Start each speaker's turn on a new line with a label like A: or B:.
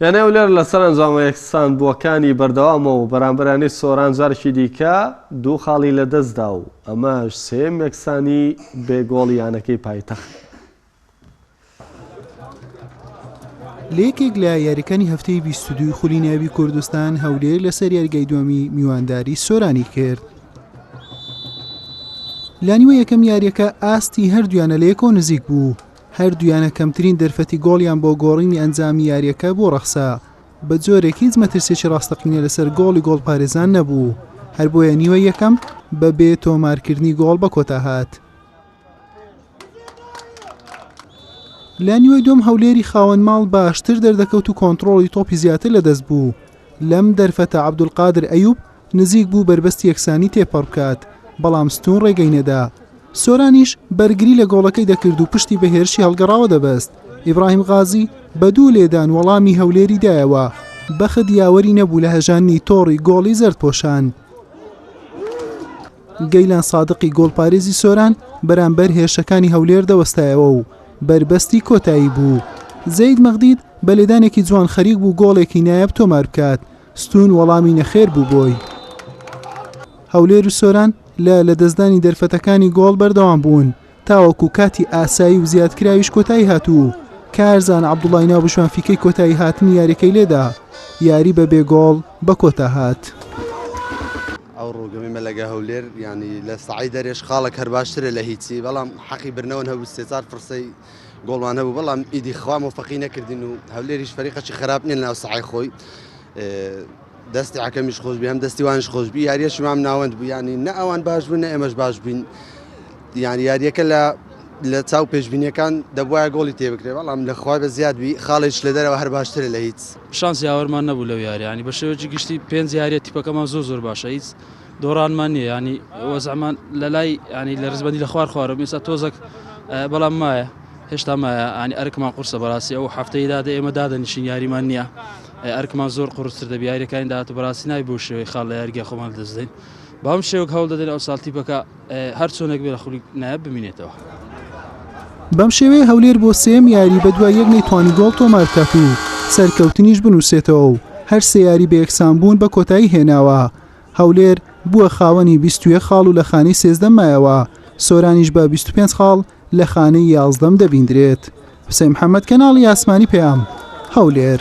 A: یانەی هەولێر لەسەر ئەنجامە یەکسانبووەکانی بەردەوامە و بەرامبەر یانەی سۆران جارێکی دیکە دوو خاڵی لەدەستدا و ئەمەش سێیەم یەکسانی بێ گۆڵی یانەکەی پایتەخت.
B: لە یەکێک لە یاریەکانی هەفتەی بیست و دووی خولی ناوی کوردستان هەولێر لەسەر یاریگای دووەمی میوانداری سۆرانی کرد. لانیوە یەکەم یاریەکە ئاستی هەردویانە لە یەکۆ نزیک بوو هەردوویانە کەمترین دەرفەتی گۆڵیان بۆ گۆڕینی ئەنجامی یارییەکە بۆ ڕەخسا، بەجۆرێک هیچ مەترسییەکی ڕاستەقینە لەسەر گۆڵی گۆڵپارێزان نەبوو، هەر بۆیە نیوەی یەکەم بەبێ تۆمارکردنی گۆڵ بەکۆتا هات. لە نیوەی دووەم هەولێری خاوەن ماڵ باشتر دەردەکەوت و کۆنتڕۆڵی تۆپی زیاتر لەدەست بوو، لەم دەرفەتە عەبدولقادر ئەیوب، نزیک بوو بەربەست یەکسانی تێپەڕ بکات، بەڵام ستوون ڕێگەی نەدا. سۆرانیش بەرگری لە گۆڵەکەی دەکرد و پشتی بە هێرشی هەڵگەڕاوە دەبەست. ئیبراهیم غازی بە دوو لێدان وەڵامی هەولێری دایەوە. بەخت یاوەری نەبوو لە هەژاندنی تۆڕی گۆڵی زەردپۆشان. گەیلان سادقی گۆڵپارێزی سۆران بەرامبەر هێرشەکانی هەولێر دەوەستایەوە و بەربەستی کۆتایی بوو. زەید مەغدید بە لێدانێکی جوان خەریک بوو گۆڵێکی نایاب تۆمار بکات، ستوون وەڵامی نەخێر بوو بۆی. هەولێر و سۆران لە لەدەستدانی دەرفەتەکانی گۆڵ بەردەوام بوون تاوەکو کاتی ئاسایی و زیادکراویش کۆتایی هات و کارزان عەبدوڵای ناوبژوان فیکەی کۆتایی هاتنی یاریەکەی لێدا یاری بە بێ گۆڵ بە کۆتا هات.
C: ئەو ڕووگەمی مەلەگە هەولێر ینی لە سعی دەرێش خاڵک هەر باشترە لە هیچی بەڵام حەقی برنەوەن هەبوو سێ چار فرسەی گۆڵمان هەبوو بەڵام ئیدی خوا مۆفەقی نەکردین و هەولێریش فەریقەکی خراپ نیە ناو سەعی خۆی دەستی عکەمیش خۆش بێ هەم دەستی وانش خۆش بی یاریەش مام ناوەند بوو ینی نە ئەوان باش بوون نە ئێمەش باش بووین یان یاریەکە لە لە چاو پێشببینیەکان دەبواە گۆڵی تێبکرێ بەڵام لەخوای بە زیادبی خاڵێک لە دەرەوە هەر باشترە لە هیچ شانس یاوەرمان نەبوو
D: لەو یاریانی بە شێوەی گشتی پێنج یاریە تیپەکەمان زۆر زۆر باشە هیچ دۆڕانمان نیە یانی وەزعمان لەلای ینی لە ڕزبەندی لە خوار خوارم ئێستا تۆزەک بەڵام مایە هێشتا مایە ئانی ئەرکمان قورسە بەڕاستی ئەو هەفتەی دادە ئێمە دادەنیشین یاریمان نییە ئەرکمان زۆر قڕستر دەبی یاریەکانی داات بەڕاستی نای بۆ شێوەی خاڵ لە یاریگە خۆمان دەستدەین بەم شێوک هەوڵ دەدەین ئەو ساڵتی بەکە هەر چۆنێک بێ لە خولی نایە بمینێتەوە.
B: بەم شێوەیە هەولێر بۆ سێم یاری بە دوای یەک نەیتوانی گۆڵ تۆمارکات و سەرکەوتنیش بنووسێتەوە و هەر سێ یاری بە یەکسان بوون بە کۆتایی هێناوە. هەولێر بووە خاوەنی بیست و یەک خاڵ و لە خانەی سێزدەم مایەوە، سۆرانیش بە بیست و پێنج خاڵ لە خانەی یازدەم دەبیندرێت. حوسەین محەمەد، کەناڵی ئاسمانی پەیام، هەولێر.